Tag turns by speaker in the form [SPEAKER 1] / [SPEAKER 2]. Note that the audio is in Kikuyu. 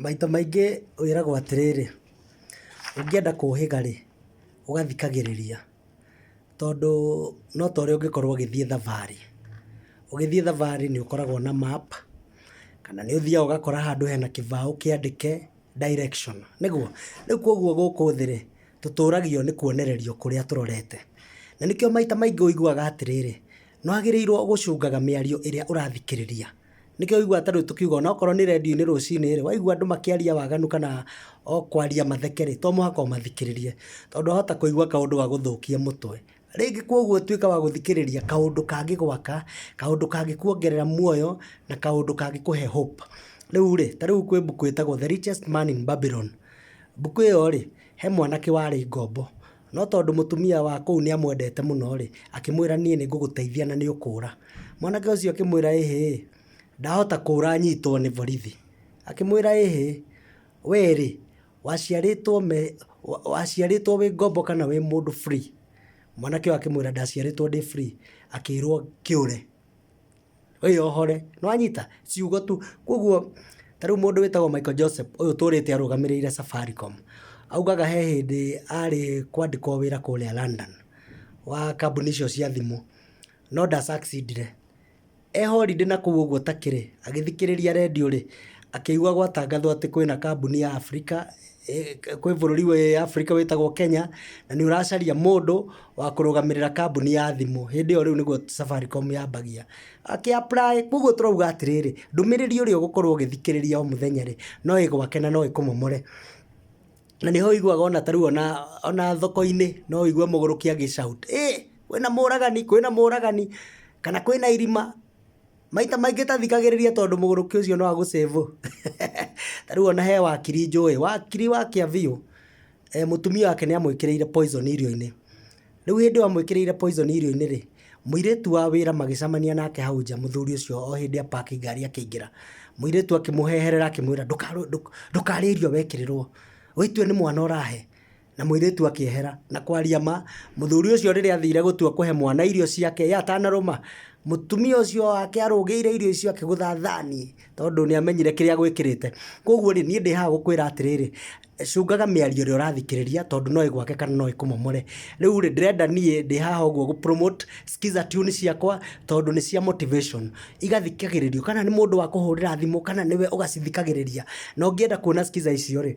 [SPEAKER 1] Maita maingĩ wĩragwo atĩrĩrĩ, ũngĩenda kũhĩga rĩ, ũgathikagĩrĩria. Tondũ no ta ũrĩa ũngĩkorwo ũgĩthiĩ thabarĩ. Ũgĩthiĩ thabarĩ nĩ ũkoragwo na map, kana nĩ ũthiaga ũgakora handũ hena kĩbaũ kĩandĩke direction, nĩguo? Rĩu kwoguo gũkũ thĩ rĩ, tũtũragio nĩ kwonererio kũrĩa tũrorete. Na nĩkĩo maita maingĩ ũiguaga atĩrĩrĩ. Nĩ wagĩrĩirwo gũcungaga mĩario ĩrĩa ũrathikĩrĩria. Nĩkĩo ũiguaga ta rĩu tũkiuga ona okorwo nĩ rendio-inĩ rũcinĩ rĩ, waigua andũ makĩaria waganu kana o kwaria matheke rĩ, to mũhaka ũmathikĩrĩrie. Tondũ wahota kũigua kaũndũ gagũthũkie mũtwe. Rĩngĩ kwoguo tuĩka wa gũthikĩrĩria kaũndũ kangĩgwaka, kaũndũ kangĩkuongerera muoyo, na kaũndũ kangĩkũhe hope. Rĩu rĩ, ta rĩu kwĩ mbuku ĩtagwo The Richest Man in Babylon. Mbuku ĩyo rĩ, he mwanake warĩ ngombo. No tondũ mũtumia wa kũu nĩ amwendete mũno-rĩ, akĩmwĩra, Niĩ nĩ ngũgũteithia na nĩ ũkũũra. Mwanake ũcio akĩmwĩra, Ĩhĩ, ndahota kũũra nyitwo nĩ borithi. Akĩmwĩra, Ĩhĩ, wee-rĩ, waciarĩtwo me, waciarĩtwo wĩ ngombo kana wĩ mũndũ free? Mwanake ũyũ akĩmwĩra, Ndaciarĩtwo ndĩ free. Akĩrwo, Kĩũre. wĩyohore, nĩ wanyita? ciugo tu, kwoguo ta rĩu mũndũ wĩtagwo Michael Joseph ũyũ ũtũrĩte arũgamĩrĩire Safaricom, augaga he hĩndĩ arĩ kwandĩkwo wĩra kũrĩa London wa kambuni icio cia thimũ, no nda succeed -ire, e holiday na kũu ũguo ta kĩrĩ, agĩthikĩrĩria rendio-rĩ, akĩigua gwatangathwo atĩ kwĩna kambuni ya Africa... eh, kwĩ bũrũri wĩ Afrika wĩtagwo Kenya na nĩ ũracaria mũndũ wa kũrũgamĩrĩra kambuni ya thimũ hĩndĩ ĩyo rĩu nĩguo Safaricom yambagia akĩ apply koguo tũrauga atĩrĩrĩ ndũmĩrĩri ũrĩa ũgũkorwo ũgĩthikĩrĩria o mũthenya rĩ no ĩgwake na no ĩkũmomore na nĩho iguaga ona tarĩu ona, ona thoko-inĩ no ũigue mũgũrũki agĩcaut ĩ kwĩna mũragani kwĩna mũragani kana kwĩna irima Maita maingĩ tathikagĩrĩria tondũ mũgũrũki ũcio no agũcĩvũ. Ta rĩu ona he wakiri njũĩ, wakiri wa Kĩaviũ, eh, mũtumia wake nĩ amwĩkĩrĩire poison irio-inĩ. Rĩu hĩndĩ ĩyo amwĩkĩrĩire poison irio-inĩ rĩ, mũirĩtu wa wĩra magĩcamania nake hau nja, mũthuri ũcio o hĩndĩ a park ngari akĩingĩra. Mũirĩtu akĩmũheherera akĩmwĩra, "Ndũkarũ- ndũk- ndũkarĩe irio wekĩrĩrwo. Wĩtue nĩ mwana ũrahe." Na mũirĩtu akĩehera. Na kwaria ma, mũthuri ũcio rĩrĩa athire gũtua kũhe mwana irio ciake, ye atanarũma, mũtumia ũcio wake arũgĩire irio icio akĩgũtha thani, tondũ nĩ amenyire kĩrĩa agwĩkĩrĩte. Kwoguo rĩ, niĩ ndĩ haha gũkwĩra atĩrĩrĩ, cũngaga mĩario ĩrĩa ũrathikĩrĩria, tondũ no ĩgwake kana no ĩkũmomore. Rĩu rĩ, ndĩrenda niĩ ndĩ haha ũguo gũ promote Skiza Tune ciakwa, tondũ nĩ cia motivation. Igathikagĩrĩrio, kana nĩ mũndũ wakũhũrĩra thimũ, kana nĩwe ũgacithikagĩrĩria. Na ũngĩenda kuona Skiza icio rĩ,